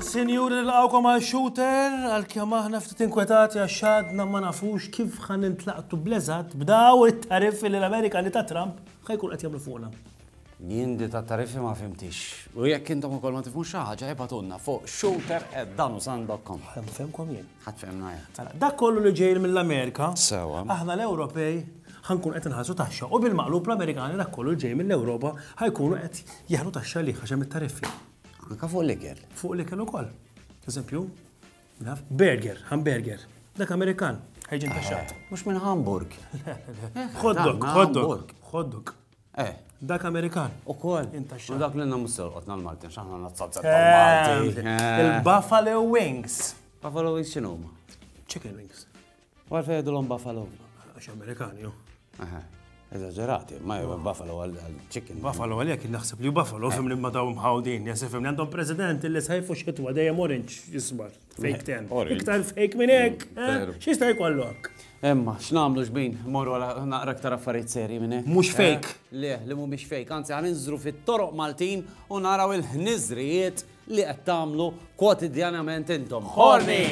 Sinjuri l-għawkom għal shooter, għal kjam aħna ftit inkwetati għax xadna ma nafux kif ħan intlaqtu blezat b'daw it-tariffi li l-Amerikani ta' Trump ħajkun qed jagħmlu fuqna. Jien di tat-tariffi ma fhimthiex. U jekk intom ukoll ma tifhmux xi ħaġa ibgħatulna fuq shooter@danusan.com. Ħa nfehmkom jien. Ħa tfehmna jien. Mela, dak kollu li ġej mill-Amerika, aħna l-Ewropej ħa nkunu qed inħallsu taxxa u bil-maqlub l-Amerikani dak kollu li ġej mill-Ewropa ħa jkunu qed jeħdu taxxa għalih għax hemm it-tariffi. Anke fuq l-ikel. Fuq l-ikel ukoll. Eżempju, naf, burger, hamburger. Dak Amerikan ħa jiġi ntaxxat. Mhux minn Hamburg. Hot dog, hot dog. Hot dog. Eh. Dak Amerikan. U kol. U dak l-inna musser qotna l-Maltin, xaħna nazzazza tal-Malti. Eh. Il-Buffalo Wings. Buffalo Wings xinu ma? Chicken Wings. U għalfej għedu l-om Buffalo? Għax Amerikan, jo. Eżagġerati, ma jgħu Buffalo għal-chicken. Buffalo għal jek naħseb li Buffalo fim li ma daw mħawdin, jasif fim li għandhom president li sajfu xitwa dejjem orange jisbar. Fake ten. Iktar fake minn hekk. Eh, x'jista' jkollok? Emma, x'namlu xbin, morru għala naqra aktar affarijiet serji minn hekk. Mhux eh, fake. Le, li mhumiex fake, anzi għan inżru fit-toroq Maltin u naraw il-ħniżrijiet li qed tagħmlu kwotidjanament intom. Ħorni!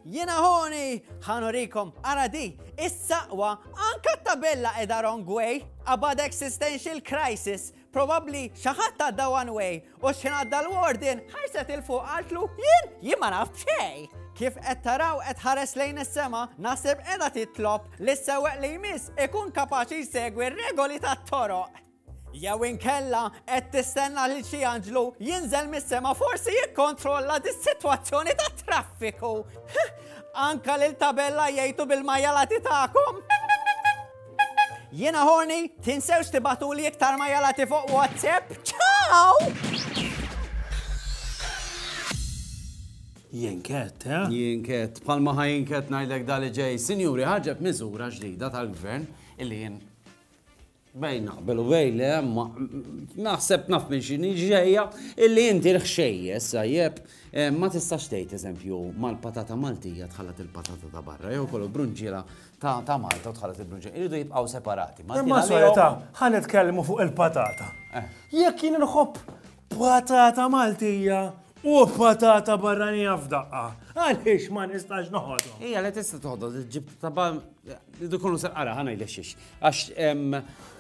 Jena ħoni, ħanurikom, ara di, is-saqwa, anka tabella edha wrong way, about existential crisis, Probabbli xi ħadd għadda one way u x'ħin għadda l-warden ħarset il fuq qaltlu jien jien ma naf b'xejn. Kif qed taraw qed ħares lejn is-sema, naħseb qiegħda titlob li s-sewweq li jmiss ikun kapaċi jsegwi r-regoli tat-toroq. Jew inkella qed tistenna lil xi anġlu jinżel mis-sema forsi jikkontrolla dis-sitwazzjoni tat-traffiku. Anka lil tabella jgħidu bil-majalati tagħkom. Jiena horny, tinsewx tibatuli iktar ma jalati fuq WhatsApp. Ciao! Jinket, eh? Jinket, palma ħaj jinket najdlek dali ġej. Sinjuri, ħarġet miżura ġdida tal-gvern illi jien bejn naqbel u bejn li ma naħseb naf minn xini ġejja illi inti l-ħxejjes sajjeb eh, ma tistax tgħid eżempju mal-patata Maltija tħallat il-patata ta' barra jew kollu brunġiela ta' Malta u tħallas il-Blue Jeans iridu jibqgħu separati. Imma solita, ħa nitkellmu fuq il-patata. Eh. Jekk jien nħobb patata Maltija u patata barranija f'daqqa, għaliex ma nistax noħodhom. Ija, li tista' toħodhom, ġib tabba Idu kunu sarqara, ħana jlexxix. Għax,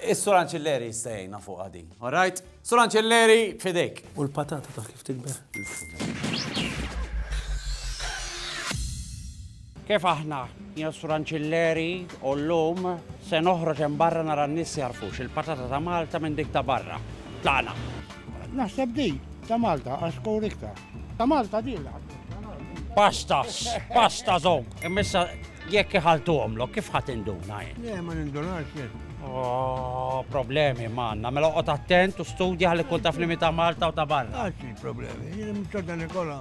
is-sur Anċilleri jistajna fuq għadi. All right? Sur Anċelleri, fidejk. U l-patata ta' kif tikber. Kif aħna, jien Sur Anċelleri, u l-lum se noħroġ hemm barra nara n-nies jarfux il-patata ta' Malta minn dik ta' barra. Tlaqna. Naħseb di ta' Malta għax kowr iktar. Ta' Malta din l-għadda. Pastas, pasta zog. Immissa jekk iħaltu għomlok, kif ħat induna jien? Le, ma nindunax jien. Oh, problemi manna, mela qot attent u studja għalli kun taf li ta' Malta u ta' barra. Għaxi problemi, jien mċodda Nikola.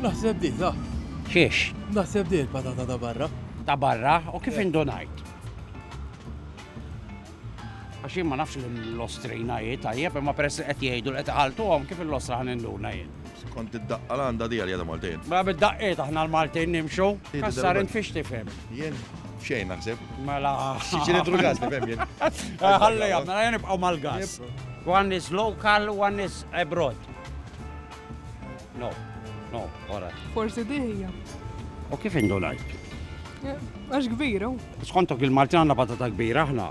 Naħseb di, ta' Xiex? Naħseb di l-patata ta' barra. Ta' barra, u kif indunajt? Għax jien ma nafx l-Ostrina hi tajjeb, imma peress li qed jgħidu li qed iħalltuhom kif il-Ostra ħa ninduna jien. Skont id-daqqa l-għanda di għalija ta' Maltin. Ma bid-daqqiet aħna l-Maltin nimxu. Kassar int fiex tifhem? Jien xejn naħseb. Mela. Ċiċilitru gas tifhem jien. Ħalli jam, mela jien nibqgħu mal-gas. One is local, one is abroad. No, no, wara. Forsi di hija. U kif indunajt? Eh, għax kbira. Skontok il-Malti għandna patata kbira aħna.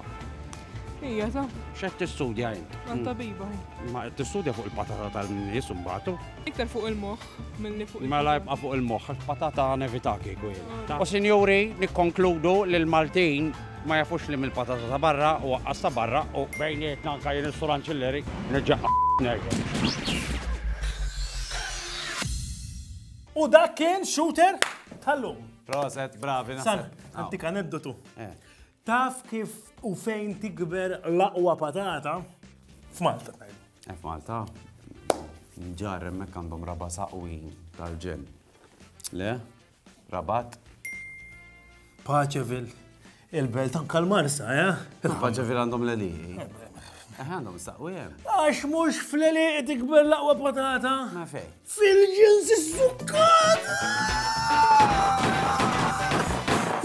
Ija, sa. Xed tistudja jint? Għan mm. tabiba. Ma tistudja fuq il-patata tal-nies mbagħad. Iktar fuq il-moħħ milli fuq il-moħħ. Mela jibqa' fuq il-moħħ, patata nevitaki kien. Ah. U sinjuri, nikkonkludu li l-Maltin Ma jafux li mill-patata ta' barra u waqqas ta' barra u bejnietna anka jien is-sur anċilleri niġġaqqa' nerġa'. U dak kien shooter tal-lum. Proset, bravi naħseb. Sal, antika aneddotu. Eh. Taf kif u fejn tikber l-aqwa patata? F'Malta. Eh, F'Malta. Ġar hemmhekk għandhom raba saqwi tal-ġen. Le? Rabat. Paċevil. Il-belt anka l-Marsa, eh? Paċevil għandhom l-eli. Eh, għandhom saqwi jem. Eh. Għax mux fl-eli tikber laqwa patata. Ma fej. Fil-ġins s-sukkata!